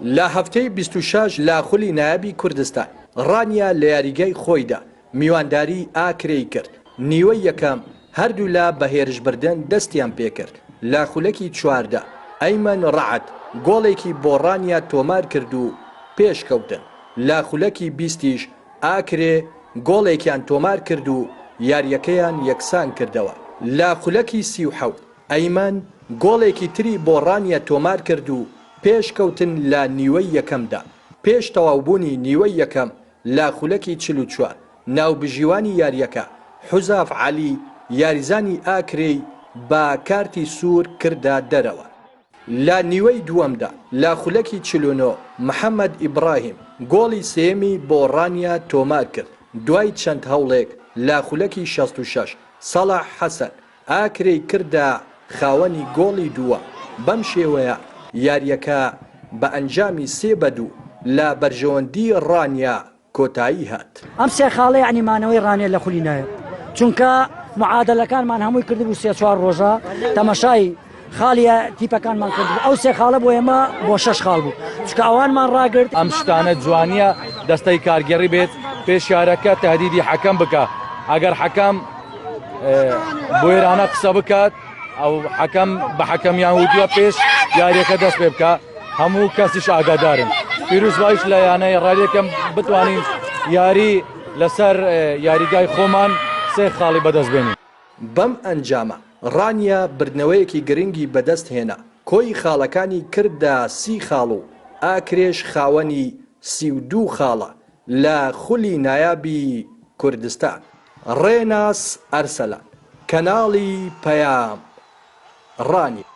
لە هەفتەی بیست و شەش لە خولی نایابی کوردستان، ڕانیە لە یاریگای خۆیدا میوانداریی ئاکرێی کرد، نیوەی یەکەم هەردوولا بە هێرشبردن دەستیان پێکرد، لە خولەکی چواردە ئەیمەن ڕەعد گۆڵێکی بۆ ڕانیە تۆمارکرد و پێشکەوتن، لە خولەکی بیستیش ئاکرێ گۆڵێکیان تۆمارکرد و یارییەکەیان یەکسانکردەوە، لە خولەکی سی و حەوت. ئەیمەن گۆڵێکی تری بۆ ڕانیە تۆمارکرد و پێشکەوتن لە نیوەی یەکەمدا، پێش تەواوبوونی نیوەی یەکەم لە خولەکی چل و چوار، ناوبژیوانی یارییەکە، حوزاف عەلی، یاریزانی ئاکرێی بە کارتی سوور کردە دەرەوە. لە نیوەی دووەمدا لە خولەکی چل و نۆ، محەمەد ئیبراهیم گۆڵی سێیەمی بۆ ڕانیە تۆمارکرد، دوای چەند هەوڵێک لە خولەکی شەست و شەش، سەڵاح حەسەن ئاکرێی کردە خاوەنی گۆڵی دووەم، بەم شێوەیە یارییەکە بە ئەنجامی سێ بە دوو لە بەرژەوەندی ڕانیە کۆتایی هات. ئەم سێ خاڵە یانی مانەوەی ڕانیە لە خولی نایب، چونکە معادەلەکانمان هەمووی کردبوو سێ چوار ڕۆژە تەمەشای. خاڵیە تیپەکانمان کردبوو ئەو سێ خاڵە بۆ ئێمە بۆ شەش خاڵ بوو چکە ئەوانمان ڕاگرت ئەم شتانە جوانیە دەستەی کارگەڕی بێت پێشارەکە تهدیدی حەکەم بکە ئەگەر حەکەم بۆێرانە قسە بکات ئەو حەکەم بە حەکەمیان ودووە پێش یاریەکە دەست پێ بکە هەموو کەسیش ئاگادارن پیرروز وایش لە یانەی ڕێکەم بتوانین یاری لەسەر یاریگای خۆمان سێ خاڵی بەدەست بێنین بەم ئەنجامە، ڕانیە بردنەوەیەکی گرنگی بەدەست هێنا، کۆی خاڵەکانی کردە سی خاڵ و ئاکرێش خاوەنی سی و دوو خاڵە لە خولی نایابی کوردستان. ڕێناس ئەرسەلان، کەناڵی پەیام، ڕانیە.